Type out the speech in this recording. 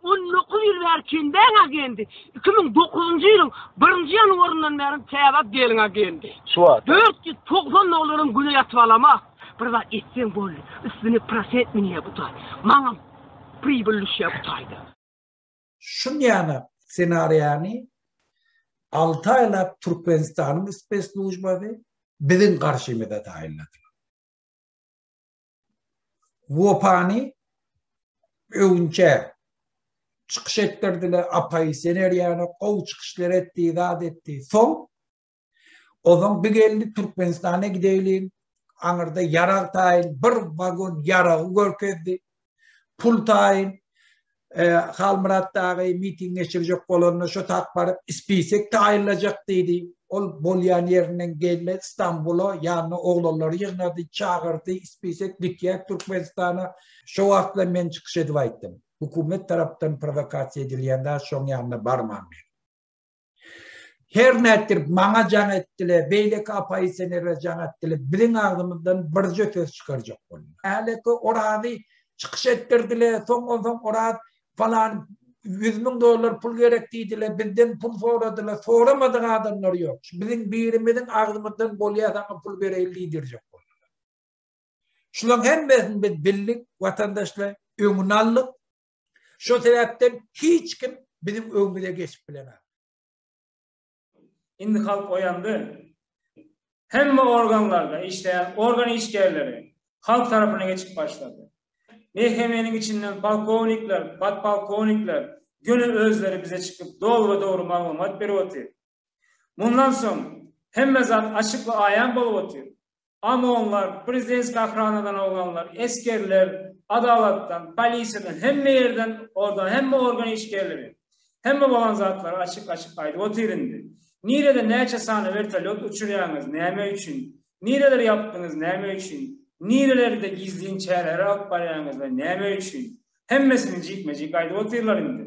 On dokuz ýyl bäri Kenbäň agendi, iki müň dokuzynjy ýylyň birinji ýanwaryndan bäri Käbap gelin agendi. Şu wagt. Dört ýüz togsan dollaryň güne ýatyp alama. Bir zat etseň boldy, üstüne prosent münýä bu taý. Maňam pribyl düşýä bu taýda. Şunýana ssenariýany alty aýlap Türkmenistanyň spesslujbasy biziň garşymyza taýynladylar. Wopany öwünçä çykyş etdirdiler, apaýy sener ýaly gowy çykyşlar etdi, zat etdi. Soň ozaň bir geldi Türkmenistana gideýin. Aňyrda ýarag taýyn bir wagon ýaragy görkezdi. Pul taýyn Halmyrat dagy miting geçirjek bolanda şo tagt baryp spisek taýynlajak diýdi. Ol bolýan ýerinden gelmedi Stambula, ýanyna oglanlary ýygnady, çagyrdy, spisek gitýär Türkmenistana. Şo wagtlar men çykyş edip aýtdym. Hökümet tarapdan prowokasiýa edilýän zat şoň ýanyna barman diýip. Her nätdir maňa jaň etdiler, beýleki apaýsenere jaň etdiler. Biziň agzymyzdan birje söz çykarjak boldy. Häleki orazy çykyş etdirdiler. Soňra soň oraz falan 100 müň dollar pul gerek diýdiler. Bizden pul soradylar. Soramadyk adamlar ýok. Biziň birimiziň agzymyzdan bolýar saňa pul bereýin diýdirjek boldular. Şularyň hemmesini biz bildik, watandaşlar öňüni aldyk. Şo sebäpden hiç kim biziň öňümize geçip bilenok. Indi halk oýandy. Hemme organlarda işleýän organ işgärleri halk tarapyna geçip başlady. Mehkemeniň içinden polkownikler, podpolkownikler göni özleri bize çykyp dogry-dogry maglumat berip otyr. Mundan soň hemme zat açyk we aýan bolup otyr. OMON-lar, prezidens gahranadan oglanlar, esgerler, adalatdan, polisiýadan, hemme ýerden, orda hemme organ işgerleri. Hemme bolan zatlary açyk-açyk aýdyp otyr indi. Nirede näçe sany wertolýot uçurýaňyz, näme üçin? Nireleri ýapdyňyz, näme üçin? Nirelerde gizlin çäreleri alyp barýaňyz we näme üçin? Hemmesini jikme-jik aýdyp otyrlar indi.